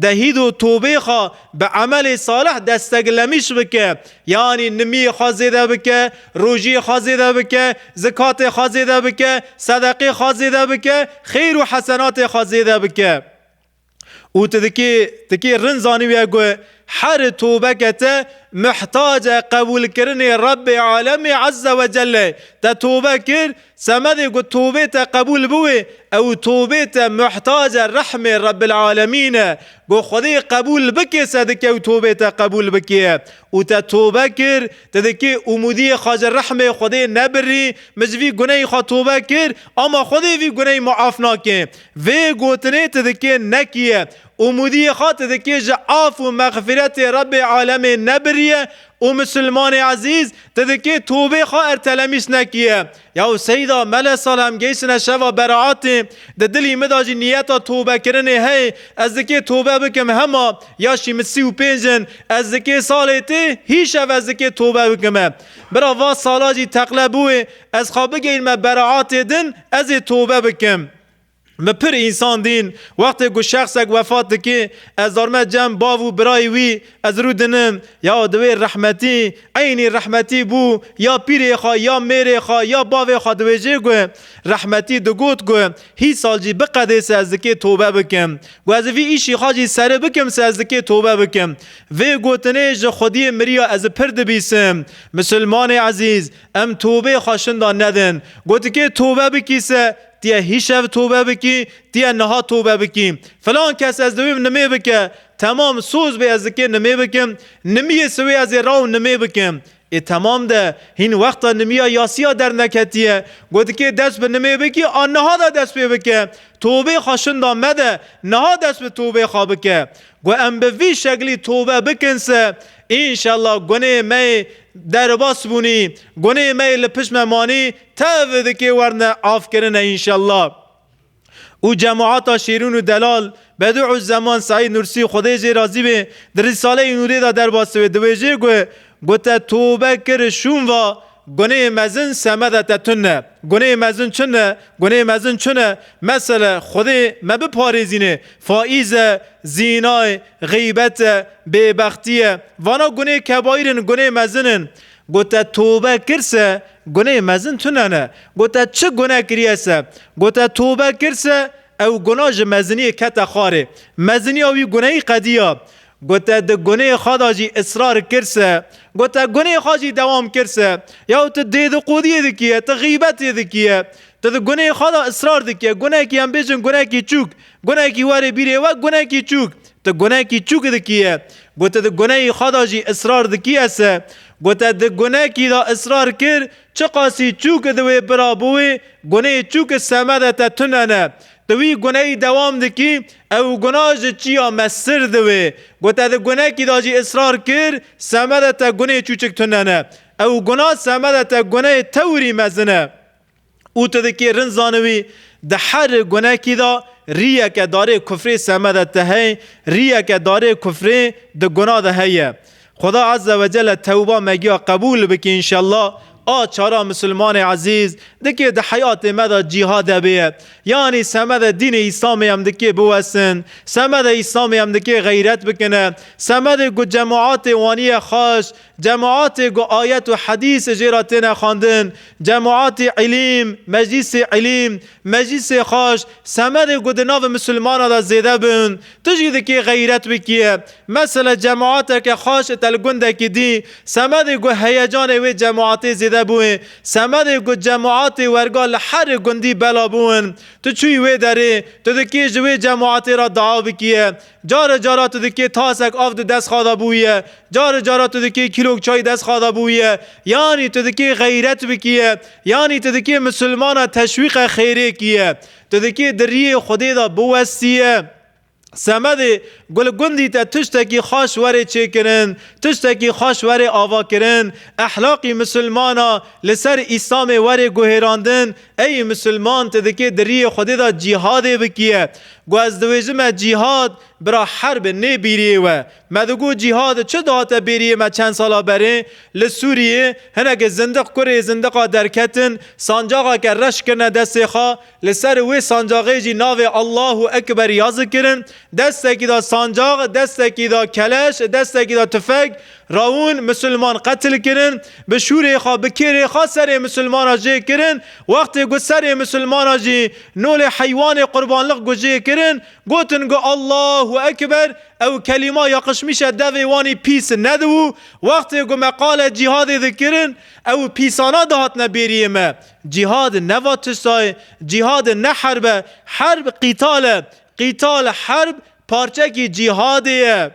dehîd û tobeyê xwe bi emelê salih destek lemîş bike. Yanî nimiyê xwe zêde bike, rojiyê xwe zêde bike, zikatê xwe zêde bike, sedeqê xwe zêde bike, xêr û hesenatê xwe zêde bike. Û tu dikê dikê rind zanîbîye ku her tobeke te mihtacê qebûlkirinê Rebbê Alemê Ezze Wecelle ye. Te tobe kir, Semedê ku tobê te qebûl biwê, ew tobê te muhtace rehmê Rebbil Alemîn e. Ku Xwedê qebûl bikê se dike ew tobê te qebûl bikê. Û te tobe kir, tu dikê umûdiyê xwe ji rehmê Xwedê nebirî, min ji vî guneyî xwe tobe kir, ama Xwedê vî guneyî muaf nake. Vê gotinê tu dikê nekiye. Umûdiyê xwe tu dikê ji af û mexfiretê Rebê Alemê nebirîye O Musulmanê ezîz, ti dikê tobê xwe ertelemîs nekiye. Yaw Seyda me le sal em geysine şeva beraetê, di dilî min de jî niyeta tobekirinê heye, ez dikê tobe bikim hema, ya şî min sî û pênc in, ez dikê salê tê hî şev ez dikê tobe bikime. Bira va sala jî teqle bûye, ez xwe bigeyinime beraetê din, ez ê tobe bikim. Me pir însan dîn. Wextê ku şexsek wefat dike, ez darme cem bav û birayê wî, ez rû dinim, ya di wê rehmetî, eynî rehmetî bû, ya pîrê xwe, ya mêrê xwe, ya bavê xwe diwêjê ku, rehmetî digot ku, hî sal jî biqedê se ez dikê tobe bikim. Ku ez vî îşî xwe jî seri bikim se ez dikê tobe bikim. Vê gotinê ji xwediyê miriya ez pir dibîsim. Misilmanê ezîz, em tobê xwe şinda nedin. Ku dikê tobe bikî se, Tu yê hîşev tobe bikî, tu yê niha tobe bikî. Filan kes ez diwîm nimê bike. Temam soz bê ez dikê nimê bikim. Nimiyê siwê ez ê raw nimê bikim. Ê temam de hîn wexta nimiya yasiya derneketiye. Got dikê dest bi nimê bikî a niha de dest pê bike. Tobê xwe şinda mede, niha dest bi tobê xwe bike. Got em bi vî şeklî tobe bikin se înşella gunê me yê derbas bûnî, gunê me yê li pişt me manî Tev dikê werne avkirine înşellah. Û cemata Şêrûn û Delal, Bedû'uzzeman Seîd Nûrsî Xwedê jê razî be, di Rîsaleyê Nûrê de derbasî wê diwêjê ku, Ku te tobe kir û şûn va, gunehê mezin semeda te tun e. Gunehê mezin çin e? Gunehê mezin çin e? Mesele, Xwedê me biparêzîne, faîz e, zîna ye, xîbet e, bêbextî ye. Vana gunehê kebaîr in, gunehê mezin in. Gote tobe kir se guneyê mezin tune ne. Gote çi gune kiriye se. Gote tobe kir se ew guna ji meziniyê kete xwarê. Meziniya wî guneyî qediya. Gote di guneyê xwe da jî israr kir se. Gote guneyê xwe jî dewam kir se. Yaw tu dêdiqodiyê dikiye, tu xîbetê dikiye. Tu di guneyê xwe da israr dikiye. Gunekî em bêjin gunekî çûk. Gunekî were bîrê we gunekî çûk. Tu gunekî çûk dikî ye. Ku tu di guneyî xwe de jî israr dikî ye se. Ku te di gunekî de israr kir, çiqasî çûk di wê bira bi wê, guneyê çûk semede te tune ne. Tu wî guneyî dewam dikî, ew guna ji çiya me sir di wê. Ku te di gunekî de jî israr kir, semede te guneyê çûçik tune ne. Ew guna semede te guneyê tewirî mezin e. Û tu dikê rind zanivî di her gunekî de rîyeke darê kufrê seme de te hey, rîyeke darê kufrê di guna de heye. Xuda Azze ve Celle tewba me giya qebûl bike înşellah. A çara Misilmanê ezîz, dikê di heyatê me de cîhade bêye. Yanî seme de dînê Îslamê em dikê biwesin, seme de Îslamê em dikê xeyret bikine, seme de ku cemaatê waniye xaş Cemaatê ku ayet û hedîs jê re têne xwendin, cemaatê îlîm, meclîsê îlîm, meclîsê xweş, semerê ku di navê misilmanan de zêde bin, tu jî dikê xeyret bikî. Mesele cemaateke xweş li tel gundekî dî, semerê ku heyecanê wê cemaatê zêde bûye, semerê ku cemaatê werga li herê gundî bela bûn, tu çûyî wê derê, tu dikê ji wê cemaatê re dua bikî. Care cara tu dikê tasek av di destxa de bûye, care cara tu dikê kîlok çay destxa de bûye, yanî tu dikê xeyret bikîye, yanî tu dikê misilmana teşwîqe xêrê kîye. Tu dikê di riyê Xwedê de biwestîye. Semedê gul gundî te tiştekî xaş were çêkirin, tiştekî xaş were avakirin, ehlaqî misilmana li ser Îslamê were guhêrandin, Ey misilman tu dikê di riyê Xwedê de cîhadê bikiye. Gu ez diwêjime cîhad, bira herb e nê bîriyê we. Me digu cîhad çi dihate bêriyê me çend sala berê li Sûriyê hinekê zindiq kurê zindiqa derketin sancaxeke reş kirine destê xwe li ser wê sancaxê jî navê Allahu Ekber ya zikirin destekî de sancax destekî de keleş destekî de tufeg Rawin Musulman qetil kirin, bi şûrê xwe, bi kêrê xwe serê Musulmana jê kirin, wextê ku serê Musulmana jî nolê heywanê qurbanlik ku jê kirin, gotin ku Allahu Ekber, ew kelîma ya qişmîşe devê wan î pîs nedibû, wextê ku me qale cîhadê dikirin, ew pîsana dihatine bêriyê me. Cîhad ne va tişta ye, cîhad ne herb e, herb qîtal e, qîtal, herb, parçekî cîhadê ye.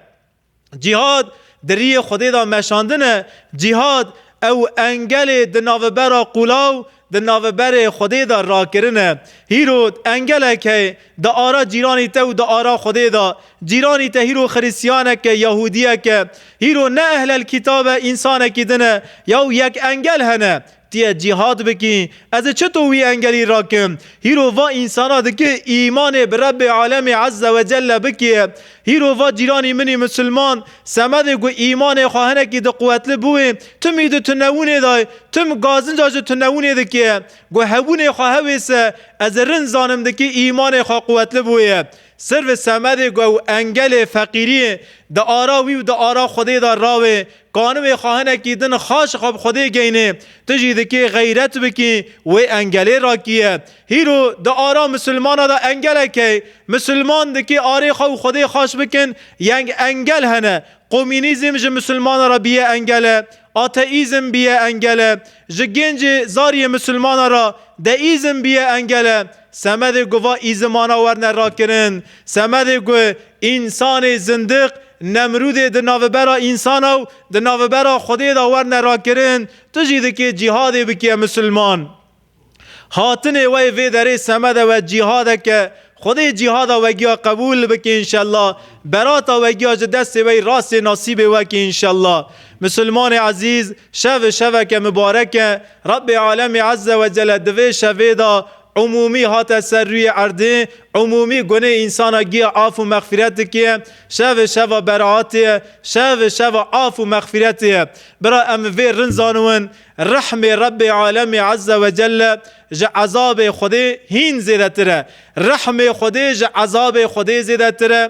Cîhad di riyê Xwedê de meşandin e. Cîhad ew engelê di navbera qûlaw di navberê Xwedê de rakirin e. Hîrod engelek heye di ara cîranî te û di ara Xwedê de. Cîranî te hîro xirîsyanek e, yahûdiyek e. Hîro ne ehlelkîtab e, însanekî din e. Yaw yek engel hene. Tu yê cîhad bikî. Ez ê çito wî engerî rakim? Hîro va însana dike îmanê bi Rebbê Alemê Ezze ve Celle bike. Hîro va cîranî min ê misilman, semedê ku îmanê xwe hinekî di quwetli bûê, tim î di tunewûnê de ye, tim gazinca ji tunewûnê dike. Ku hebûnê xwe hewêse, ez ê rind zanim dike îmanê xwe quwetli bûye. Sirve semedê ku ew engelê feqîriyê di ara wî û di ara Xwedê de rawê, Kanû wê xahinekî din xaç ji xwe bi Xwedê geynê. Tu jî dikê xeyret bikî wê engelê rakiye. Hîro di ara misilmana de engelek hey. Misilman dikê arê xwe û Xwedê xaç bikin. Yeng engel hene. Komînîzm ji misilmana re biye engele. Ateîzm biye engele. Ji gêncê zariyê misilmana re deîzm biye engele. Semedê ku va îzimana werne rakirin, semedê ku însanê zindiq Nemrûdê di navbera însana û di navbera Xwedê de werne rakirin, tu jî dikê cîhadê bikiye misilman. Hatinê we yê vê derê semede we cîhadek e, Xwedê cîhada wegiya qebûl bike înşella, berata wegiya ji destê we yî rastê nasîbê weke înşella. Misilmanê ezîz! Şev şeveke mibarek e. Rebbê Alemî Ezze ve Celle di vê şevê de umûmî hate ser rûyê erdê, umûmî gunê însana giya af û mexfîret dike. Şev şeva beraatê ye. Şev şeva af û mexfîretê ye. Bira em vê rind zaniwin, Rehmê Rebbê Alemî Ezze ve Celle ji ezabê Xwedê hîn zêdetir e. Rehmê Xwedê ji ezabê Xwedê zêdetir e.